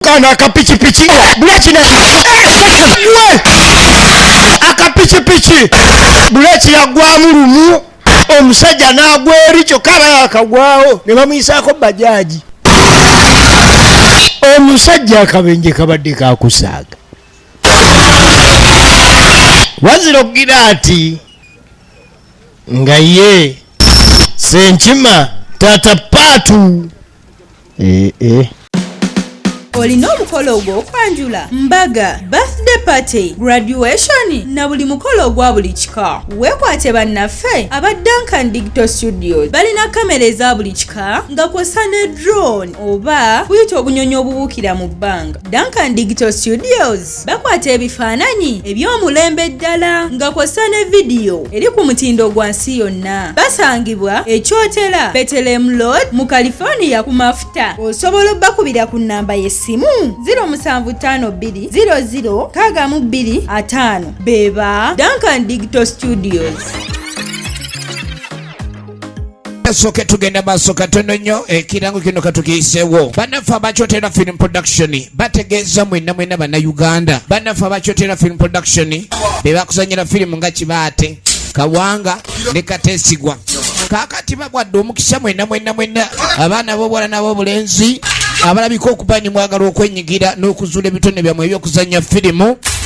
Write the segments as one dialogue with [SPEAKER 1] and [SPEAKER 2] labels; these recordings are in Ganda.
[SPEAKER 1] kano akapikipiki buleki ne akapikipiki buleki yagwamu lumu omusajja n'agwa eri kyokka aba yakagwawo ne bamuyisaako bajaaji omusajja akabenje kabadde kakusaaga wazira okugira nti nga ye senkima taata paatu ee
[SPEAKER 2] olina omukolo ogw'okwanjula mbaga birthday party graduation na buli mukolo ogwa buli kika weekwate bannaffe aba duncan digital studios balina kamera eza buli kika nga kwosa ne drone oba kuyita obunyonyi obubuukira mu bbanga duncan digital studios bakwata ebifaananyi eby'omulembe ddala nga kw'ossa ne vidiyo eri ku mutindo gwa nsi yonna basangibwa ekyotera betelem lod mu california ku mafuta osobola obbakubira ku nnamba y'essimu 0752006225 beba duncan digito studios
[SPEAKER 3] kasooke tugenda maaso katono nnyo ekirango kino katukiyiseewo bannaffe abakyotera film production bategeeza mwena mwena bannayuganda bannaffe abakyotera film production be bakuzanyira firimu nga kibaate kawanga ne kateesigwa kaakati bagwadde omukisa mwena mwena mwena abaana b'obuwala n'ab'obulenzi abalabika okuba ni mwagala okwenyigira n'okuzuula ebitone byammwe eby'okuzannya firimu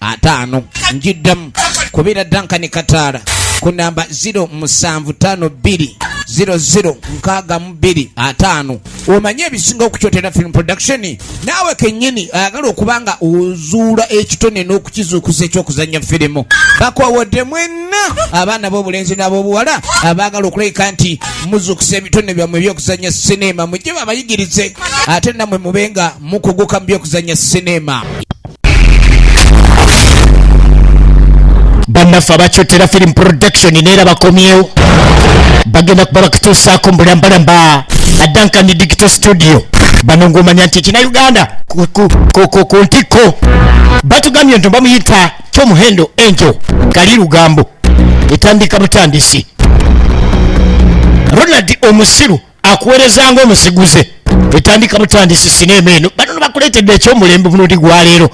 [SPEAKER 3] ataano njiddamu kubira dankani kataala ku namba 07520062 omanye ebisinga okukyotera film production naawe kennyini ayagala okuba nga ozuula ekitone n'okukizuukusa ekyokuzannya firimu bakowodde mwenna abaana b'obulenzi n'ab'obuwala abaagala okulabika nti muzuukusa ebitone byammwe ebyokuzannya sineema mujje babayigirize ate nammwe mube nga mukuguka mu byokuzannya sineema
[SPEAKER 1] bannaffe abakyotera film production neera bakomyewo bagenda kuba bakituusaako mu bulambalamba adankan digital studio bano ng'omanya nti ekina uganda ku ntikko batugambye nti bamuyita tomuhendo enjo kali lugambo etandika butandisi ronald omusiru akuweereza ng'omusiguze etandika butandisi sineema eno banono bakuleetedde ekyomulembe bunundi gwaleero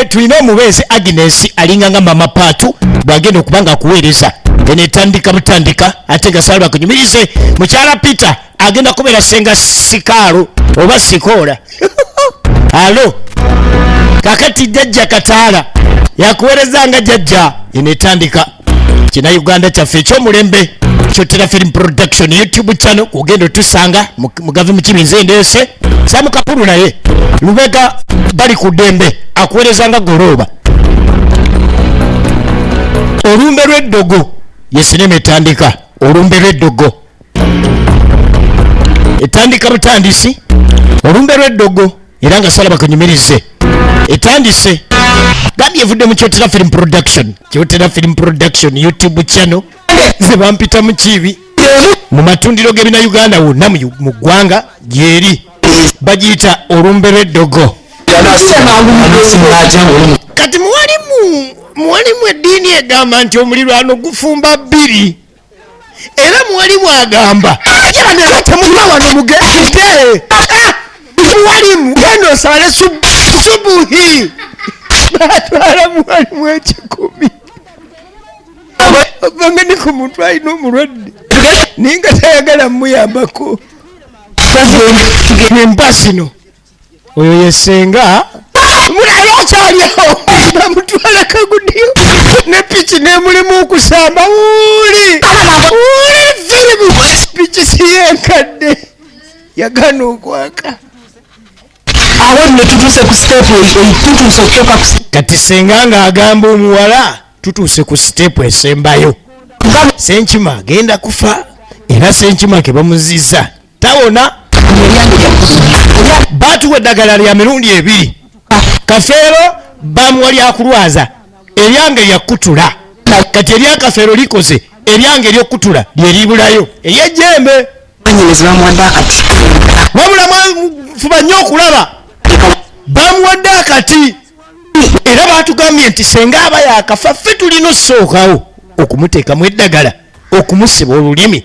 [SPEAKER 1] tulina omubeezi agnes alinga nga mama paatu bwagenda okuba nga akuweereza eno etandika butandika ate nga salbakunyumirize mukyala peter agenda kubeera senga sikaalo oba sikoola alo kakati jajja kataala yakuwereza nga jajja enetandika kina uganda kyaffe ekyomulembe kyotera film production youtube channel kugenda otusanga mugavi mukibi nze ndeese samukapulu naye lubega bali ku dembe akuwereza nga golooba olumbe lw'eddogo yesinema etandika olumbe lw'eddogo etandika butandisi olumbe lw'eddogo era nga salaba kanyumirize etandise gandi evudde mu kyotera film production kyotera film production youtube channel ze bampita mu kiibi mu matundiro g'ebina uganda wonna mu ggwanga gyeri bagiyita olumbe lw'eddogo kati muwalimu muwalimu eddiini egamba nti omulirwano gufumba bbiri era mwali mwagamba temuva wano mugende muwalimu genda osale subuhi batwala muwalimu ekikumi obanga ni ku muntu alina omulwadde naye nga tayagala muyambako empa zino oyo yesenga mulabe akyalyawo bamutwala kagudiyo ne piki nemulimu okusamba wuli wuli firimu piki siyenkadde yagana okwaka awo nno tutuuse ku siteepu tutuuse okutoka kati senga nga agamba omuwala tutuuse ku siteepu esembayo senkima agenda kufa era senkima kebamuziza tawona batuwa eddagala lya mirundi ebiri kafeero bamuwa lyakulwaza eryange lyakutula kati eryakafeero likoze eryange eryokutula lyeribulayo eryejembe wabula mwafuba nnyo okulaba bamuwadde akati era batugambye nti senga aba yakafa ffe tulina okusookawo okumuteekamu eddagala okumusiba olulimi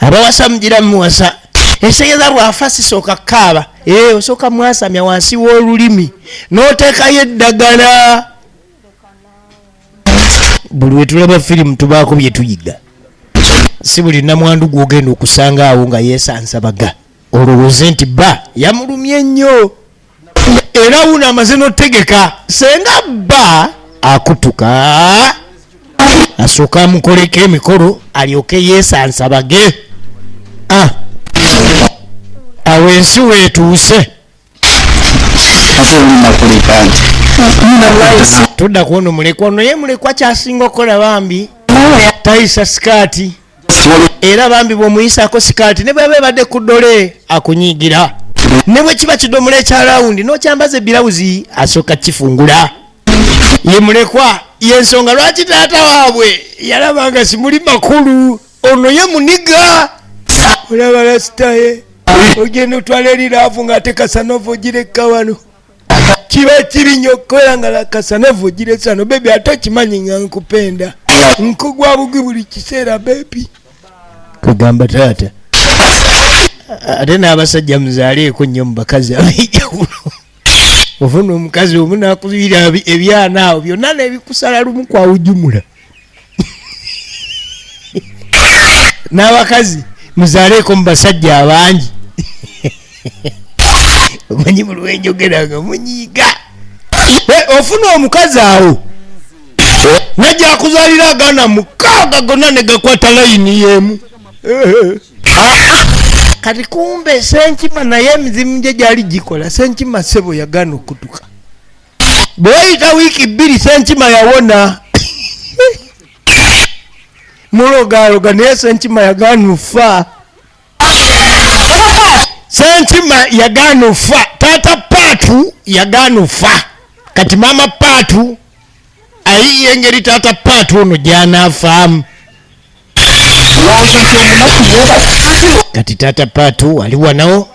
[SPEAKER 1] abawasa mugira muwasa ekitegeeza bwafa sisooka kaaba e eh, osooka mwasamya wansi w'olulimi n'oteekayo eddagala buli wetulaba firimu tubaako bye tuyiga si buli namwandu gwogenda okusanga awo nga yeesansabaga olowooze nti ba yamulumye nnyo era wuno amaze notegeka senga bba akutuka asooka amukoleko emikolo alyoke yesansabage ah. awo ensi wetuuse tudda kuono mulekwa ono ye mulekwa kyasinga okukola bambi tayisa sikaati era bambi bwomuyisako sikaati ne bweba ebadde ku dole akunyiigira ne bwe kiba kidomola ekya lawundi nokyambaza ebilawuzi asooka kifungula ye mulekwa yensonga lwaki taata waabwe yalaba nga simuli makulu ono ye muniga olaba lasitaye ogenda otwala eri laavu ng'ate kasanova ogireka wano kiba kibi nnyo okukola nga lakasanava ogire sano bebi ate okimanyi nga nkupenda nkugwa bugwi buli kiseera bebi kwegamba taata ate n'abasajja muzaaleeko nnyo mu bakazi ab'enjawulo ofuna omukazi omu nakubiira ebyana awo byonna nebikusala lumu kwawujumula n'abakazi muzaleeko mu basajja abangi omanyi mu lwenjogera nga munyiiga ofuna omukazi awo najja akuzalira agaana mukaaga gonna ne gakwata layini yemu kati kumbe senkima naye emizimu gye gyali gikola senkima sebo yagaana okutuka bweyita wiiki bbiri senkima yawona mulogaloga naye senkima yagaana ofa senkima yagaana ofa taata paatu yagaana ofa kati maama paatu ayiye engeri taata paatu ono gyanafaamu kati tata patu ali wanawo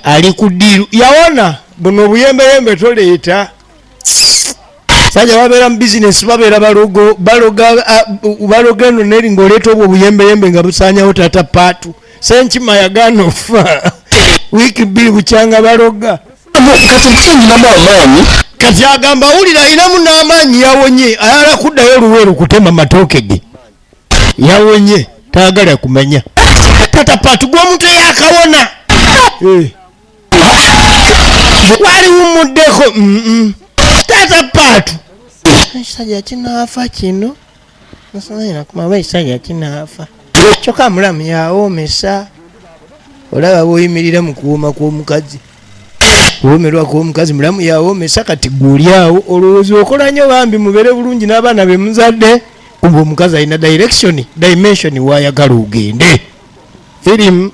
[SPEAKER 1] ali ku diiru yawona buno obuyembeyembe toleeta saja babeera mu bizinesi babeera balogo baloga eno neri ngaoleeta obwo obuyembeyembe nga busanyawo tata patu senkima yagaana ofa wiiki bbiri bukyanga baloga kati mpisa nyinamu amaanyi kati agamba wulira ayinamu n'amaanyi yawonye ayala kuddayo luweeru kutema matooke ge yawonye tayagala kumanya tata patu gw'omuntu eyakawona eh. wali wumuddeko tata patu ekisajja kinaafa kino kyoka mulamu yawomesa olaba bwoyimirira mu kuwoma kw'omukazi kuwomerwa kw'omukazi mulamu yawomesa kati gweolyawo olowooza okola nyo bambi mubeere bulungi n'abaana be muzadde kuba omukazi alina direction dimension wayagala ogende firimu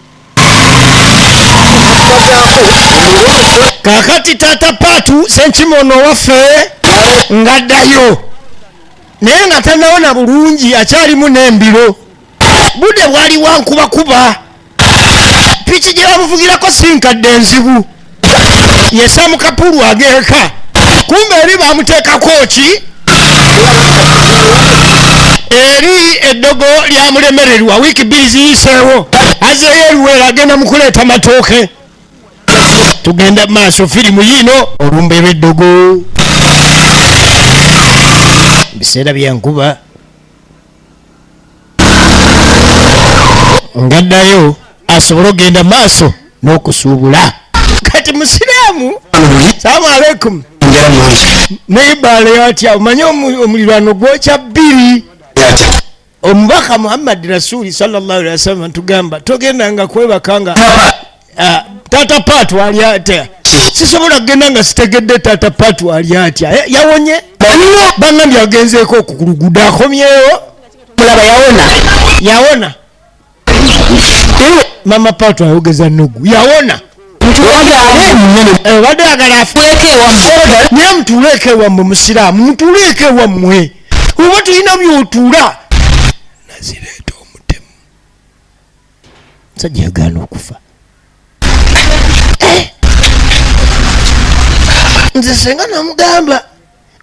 [SPEAKER 1] kakati taata paatu senkima ono waffe ngaddayo naye nga tanawona bulungi akyalimu n'embiro budde bwali wankubakuba piki gye bamuvugirako si nkadde enzibu yesamu kapulu ageeka kumbe eri bamuteekako ki eri eddogo lyamulemererwa wiiki bbiri ziyiseewo azeeyo eruweera agenda mu kuleeta matooke tugenda maaso firimu yiino olumbe lweddogo biseera byankuba ngaddayo asobole okugenda maaso n'okusuubula kati musiraamu salaamu aleikum naye baale yatya omanye omulirwano gwokya bbiri omubaka muhammadi rasuli sawasalam ntugamba togenda nga kwebaka nga ah, tata pat wali atya sisobola kugenda nga sitegedde tata pat wali atya eh, yawonye bangambye agenzeeko okukuluguda akomyewo mulaba yawona
[SPEAKER 4] yawona
[SPEAKER 1] eh, mama pato ayogeza nugu yawona obadde eh, agala afnaye mutuuleeko ewammwe musiraamu mutuuleeko ewammwe oba tulina byotuula nazireeta omutemu sajja yagaana okufa eh. nze senga namugamba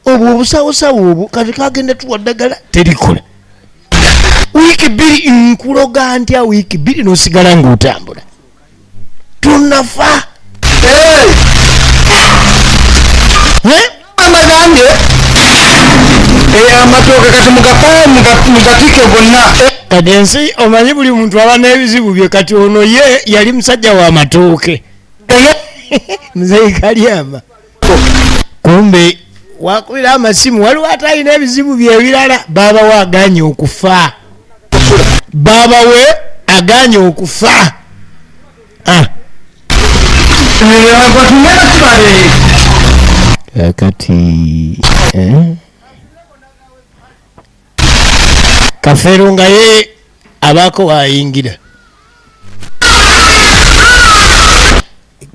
[SPEAKER 1] obwo obusawosawo obwo kati kagenda tuwa ddagala terikola wiiki bbiri nkuloga ntya wiiki bbiri nosigala ngaotambula tunafa
[SPEAKER 4] amagambye amatooke kati mugapaye mugatike gonna kati ensi
[SPEAKER 1] omanyi buli muntu aba n'ebizibu bye kati ono ye yali musajja wa matooke muzeyi kalyama kumbe wakubira amasimu waliwo atalina ebizibu byebirala babawe aganye okufa babawe aganye okufa ah. eh, kati eh? kafeero nga ye abaako wayingira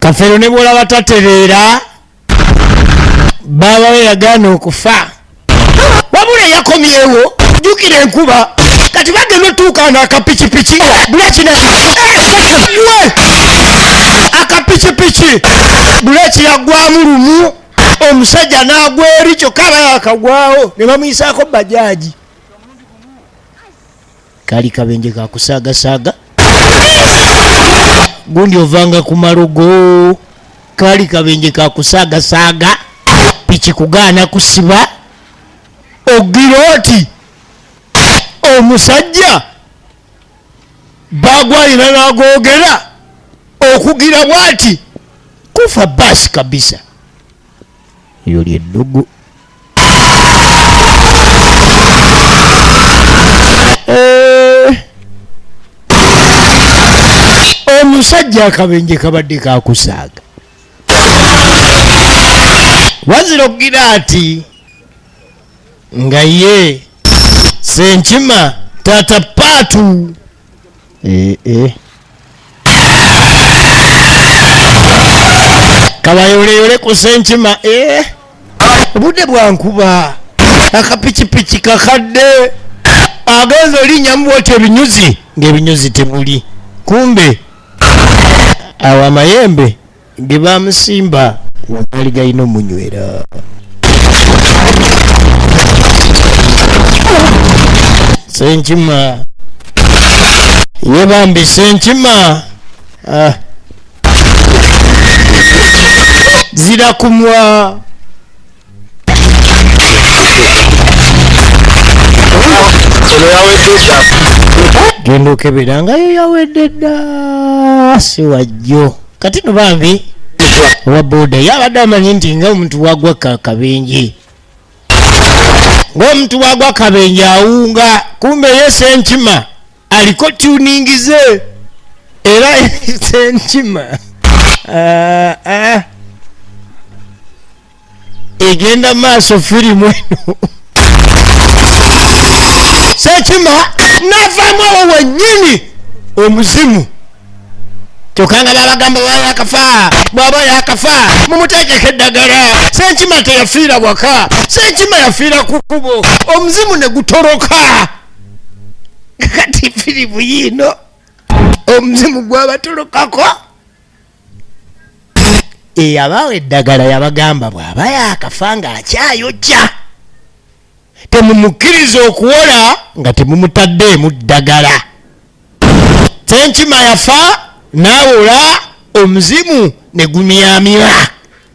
[SPEAKER 1] kafeero ne bwolaba tatereera baabawe yagaana okufa wabula yakomyewo jukira enkuba kati bagenda otuukaana akapikipiki bulekina akapikipiki buleki yagwamu lumu omusajja n'agwa eri kyokka aba yakagwawo ne bamuyisaako bajaaji kali kabenje kakusaagasaaga gundi ovanga ku malogo kali kabenje kakusaagasaaga piki kugaana kusiba ogira oti omusajja bagwayina nagogera okugira bwati kufa basi kabisa yoli eddugu omusajja akabenje kabadde kakusaaga wazira okugira ati nga ye senkima tata paatu eh, eh. kabayoleyole ku senkima eh. obudde bwankuba akapikipiki kakadde agenza olinya mubwoti ebinyuzi ngaebinyuzi tebuli kumbe awo amayembe nge bamusimba nga gaali galina omunywera senkima ye bambi senkima ah. zirakumwa genda okebera nga yo yawedde dda siwajjo kati no bambi owa boda yabadde amanyi nti nga omuntu wagwa kakabenje ng'omuntu wagwa kabenje awunga kumbe yese enkima aliko tuningize era enkima uh, uh. egenda maaso firimu eno sekima navamu awo wenyini omuzimu kyokka nga babagamba baba yakafa bwaba yakafa mumuteekeko eddagala senkima teyafiira waka senkima yafiira ku kubo omuzimu ne gutoloka kati firimu yiino omuzimu gwabatolokako eyabawa eddagala yabagamba bw'aba yaakafa ng'akyayojja temumukkiriza okuwola nga temumutaddeemu ddagala senkima yafa n'awola omuzimu ne gumyamira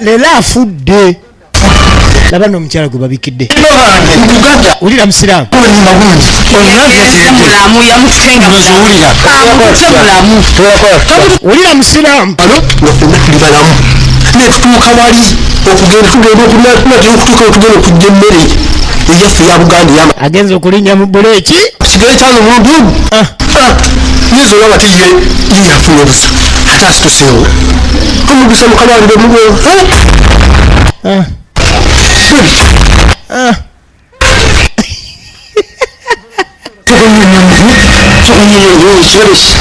[SPEAKER 1] leero afudde laba no omukyala gwe babikidde
[SPEAKER 4] wulira
[SPEAKER 1] musiraamu wulira musiraamu
[SPEAKER 4] netutuuka wali okugenda tugenda okunatugenda okutuuka otugenda okujja emmere eyaffe ya buganda yama agenza okulinnya mu
[SPEAKER 1] buleeki kigere kyano omuntu
[SPEAKER 4] omu ah. ah. yinza olaba tiye yeyafuna obusa ate asituseewo omugisa mukabange mulwo
[SPEAKER 1] eh. eh.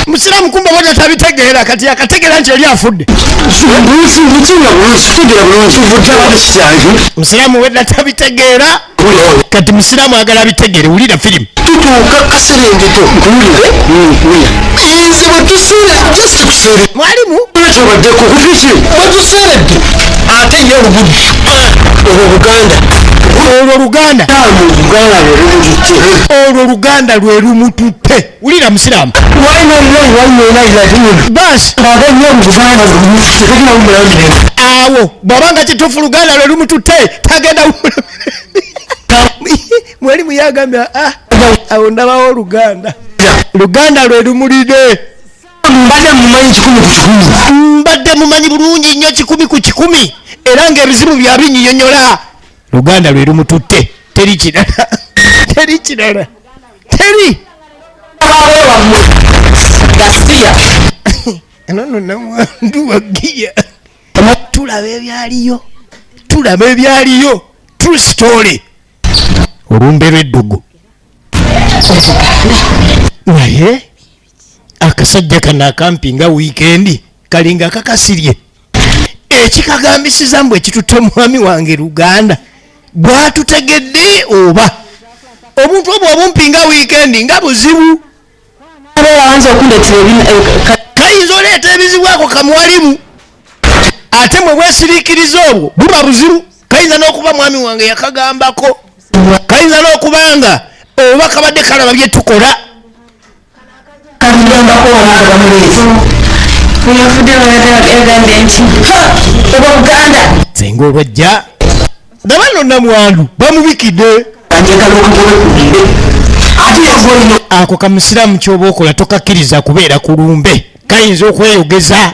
[SPEAKER 1] musiramu kumba bona tabitegeera kati yakategeera nti yali afudde musiramu wedda tabitegeera kati musiraamu agala abitegere wulira firimu tutuuka
[SPEAKER 4] kaserengeko nkuwulire nze bwetusuula just kuseere mwalimu
[SPEAKER 1] kyobaddeko
[SPEAKER 4] kukiki bwetuseeredde ate ye oluguddu olwo buganda olwo
[SPEAKER 1] luganda olwo luganda lwe lumututte wulira musiraamu awo bwabanga kitufu luganda lwe lumututte tagenda mweli muyagambira ah, awo ndabawo oluganda luganda lwe lumulide mbadde mumanyi kikumi ku kikumi mbadde mumanyi bulungi nnyo kikumi ku kikumi era ngaebizibu byabinyiyonyola luganda lwe lumututte teri kirala teri kirala teri enono namwandu wagiya tulaba ebyaliyo tulaba ebyaliyo true story olumbe lweddugu naye akasajja kano akampi nga wiikendi kalinga kakasirye ekikagambisiza mbu ekitutte omwami wange luganda bwatutegedde oba omuntu obwo obumpi nga wiikendi nga buzibu kayinza oleeta ebizibu ako kamwalimu ate mwe bwesirikiriza obwo buba buzibu kayinza n'okuba mwami wange yakagambako kayinza n'okuba nga oba kabadde kalaba byetukola kamugambako wano nga bamuleeta yafudde yagambye nti oba buganda senga olwajja nga bano namwandu bamubikidde ako kamusiraamu kyoba okola tokakkiriza kubeera ku lumbe kayinza okweyogeza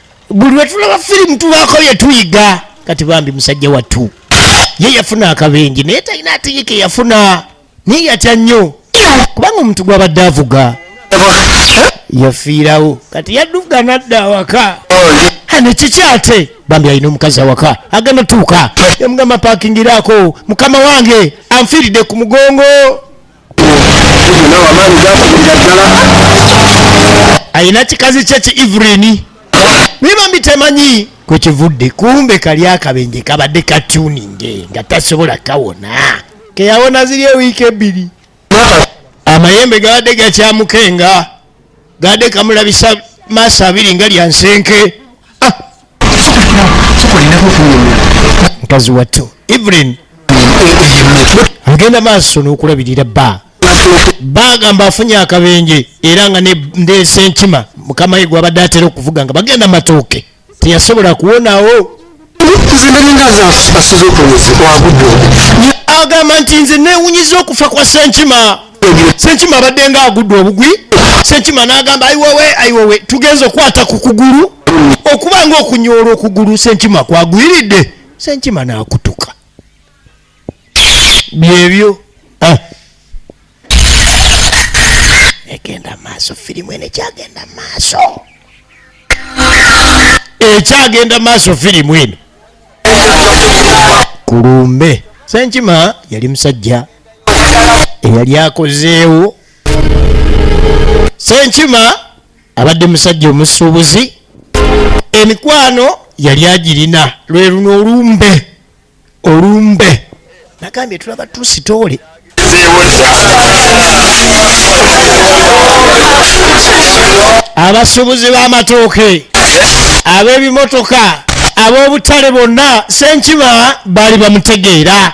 [SPEAKER 1] buli wetulaba firimu tubaako byetuyiga kati bambi musajja wattu ye yafuna akabenje naye talina ateyike yafuna naye yatya nnyo kubanga omuntu gwabadde avuga yafiirawo kati yadduka nadda awaka ane kiki ate bambi alina omukazi awaka agenda tuuka yamugamba pakingiraako mukama wange anfiiridde ku mugongo alina kikazi kye ki evelini naye bambi temanyi kwekivudde kumbe kali akabenje kabadde katuninge nga tasobola kawona keyawona ziri ewiiki ebbiri amayembe gabadde gakyamukenga gabadde kamulabisa maaso abiri nga lyansenke mukazi wattu evelyn agenda maaso n'okulabirira bba bagamba afunye akabenje era nga ndeesa enkima mukama ye gwabadde atera okuvuga nga bagenda matooke teyasobola kuwonawo agamba nti nze newunyiza okufa kwa senkima sekima abadde nga agudde obugwi sekima n'agamba ayiwowe ayiwowe tugenza okukwata ku kugulu okuba nga okunyoola okugulu senkima kwagwiridde senkima n'akutuka byebyo ah. egenda maaso firimu eno ekyagenda maaso ekyagenda maaso firimu eno kulumbe senkima yali musajja eyali akozeewo senkima abadde musajja omusuubuzi emikwano yali agirina lwe luno olumbe olumbe nagambye tulaba tusitoole abasuubuzi b'amatooke ab'ebimotoka ab'obutale bonna senkima baali bamutegeera